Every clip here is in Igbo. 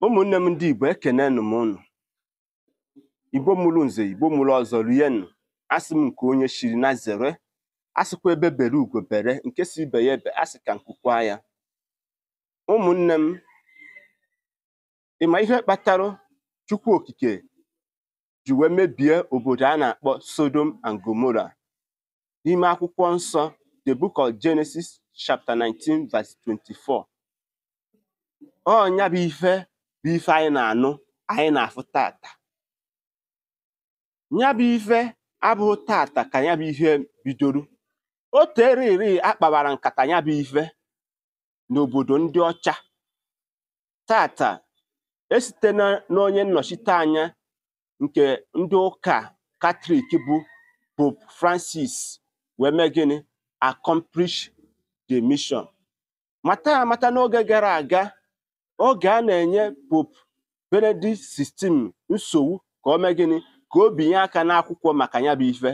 ụmụnne m ndị Igbo ekenenụ m ụnụ Igbo mụrụ nze Igbo mụrụ ọzọ rienụ asị m nke onye chiri nya zere asịkwa egbe bere ugo bere nke sị ibe ya ebe asị ka nku kwaa ya ụmụnne m ị ma ihe kpatara Chukwu Okike ji wee mebie obodo a na-akpọ Sodom and Gomora n'ime akwụkwọ nsọ the book of Genesis chapter 19 verse 24 ọ nya bụ ife bụ ife anyị na-anụ anyị na-afụ tata nya bụ ife abụrọ tata ka nya bụ ife bidoro o tere eri a kpabara nkata nya bụ ife n'obodo ndị ọcha tata e site n'onye nnọchite anya nke ndị ụka katọlik bụ pope francis wee mee gịnị accomplish the mission mata amata n'oge gara aga oge a na-enye pope benedict 16 nsogbu ka o mee gịnị ka o binye aka n'akwụkwọ maka ya bụ ife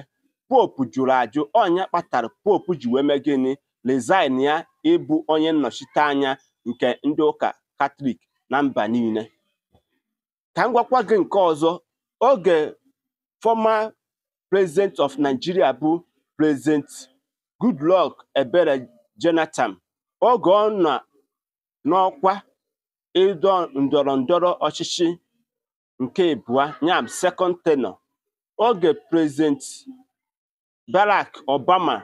pope jụrụ ajụ ọ nya kpatara pope ji wee mee gịnị resign ya ịbụ onye nnọchite anya nke ndị ụka katọlik na mba niile ka m gwakwa gị nke ọzọ oge former president of Nigeria bụ president Goodluck Ebele Jonathan oge ọ nọ n'ọkwa ịdọ ndọrọ ndọrọ ọchịchị nke ịbụa nya bụ second tenure oge president Barack Obama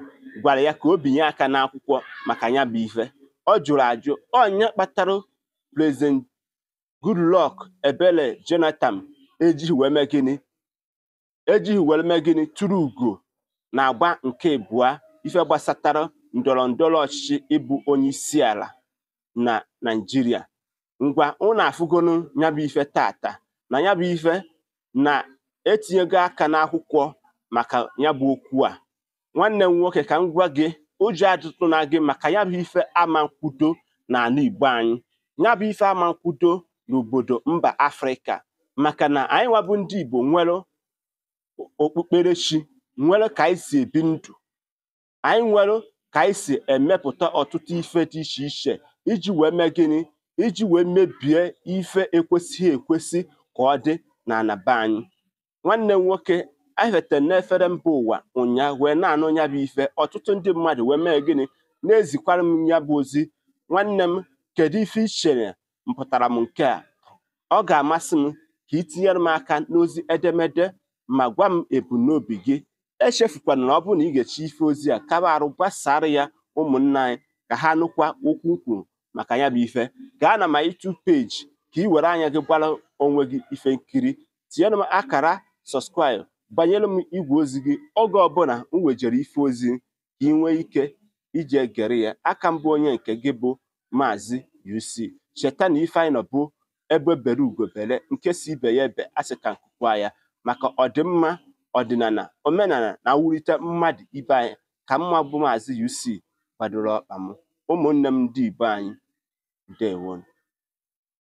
gwara ya ka o binye aka n'akwụkwọ maka nya bụ ife ọ jụrụ ajụ ọ nya kpatara President Goodluck Ebele Jonathan ejighị were mee gịnị turu ugo n'agba nke abụọ ife gbasatara ndọrọ ndọrọ ọchịchị ịbụ onye isi ala na naijiria ngwa ụnụ afụgonụ nya bụ ife tata na ya bụ ife na e tinyego aka n'akwụkwọ maka ya bụ okwu a nwanne m nwoke ka m gwa gị ụjọ atụtụna gị maka ya bụ ife ama nkwudo n'ana igbo anyị ya bụ ife ama nkwudo n'obodo mba afrịka maka na anyị nwa bụ ndị igbo nwere okpukperechi nwere ka anyị si ebi ndụ anyị nwere ka anyị si emepụta ọtụtụ ife dị iche iche iji wee mee gịnị iji wee mebie ife ekwesịghị ekwesị ka ọ dị n'ana be anyị nwanne m nwoke anyị fetara n'efere mba ụwa ụnyaahụ wee na-anụ nya bụ ife ọtụtụ ndị mmadụ wee mee gịnị na-ezikwara m nya bụ ozi nwanne m kedu ife i chere mpụtara m nke a ọ ga-amasị m ka ị tinyere m aka n'ozi edemede ma gwa m ebumnobi gị echefukwana na ọ bụrụ na ị gechaa ife ozi a kaba arụ gbasaara ya ụmụnna anyị ka ha nụkwa okwu m kwuru maka ya bụ ife gaa na my YouTube page ka ị were anya gị gbara onwe gị ife nkiri tinyere m akara subscribe gbanyere m igwe ozi gị oge ọbụla m wejere ife ozi ka ị nwee ike iji egere ya aka mbụ onye nke gị bụ maazị UC cheta na ife anyị nọ bụ egbe bere ugo bere nke si ibe ya ebena sị ka nku kwaa ya maka ọdịmma ọdịnala omenala na iwulite mmadụ ibe anyị ka mụwa bụ maazị UC gbadoro ọkpa m ụmụnne m ndị Igbo anyị ndewonu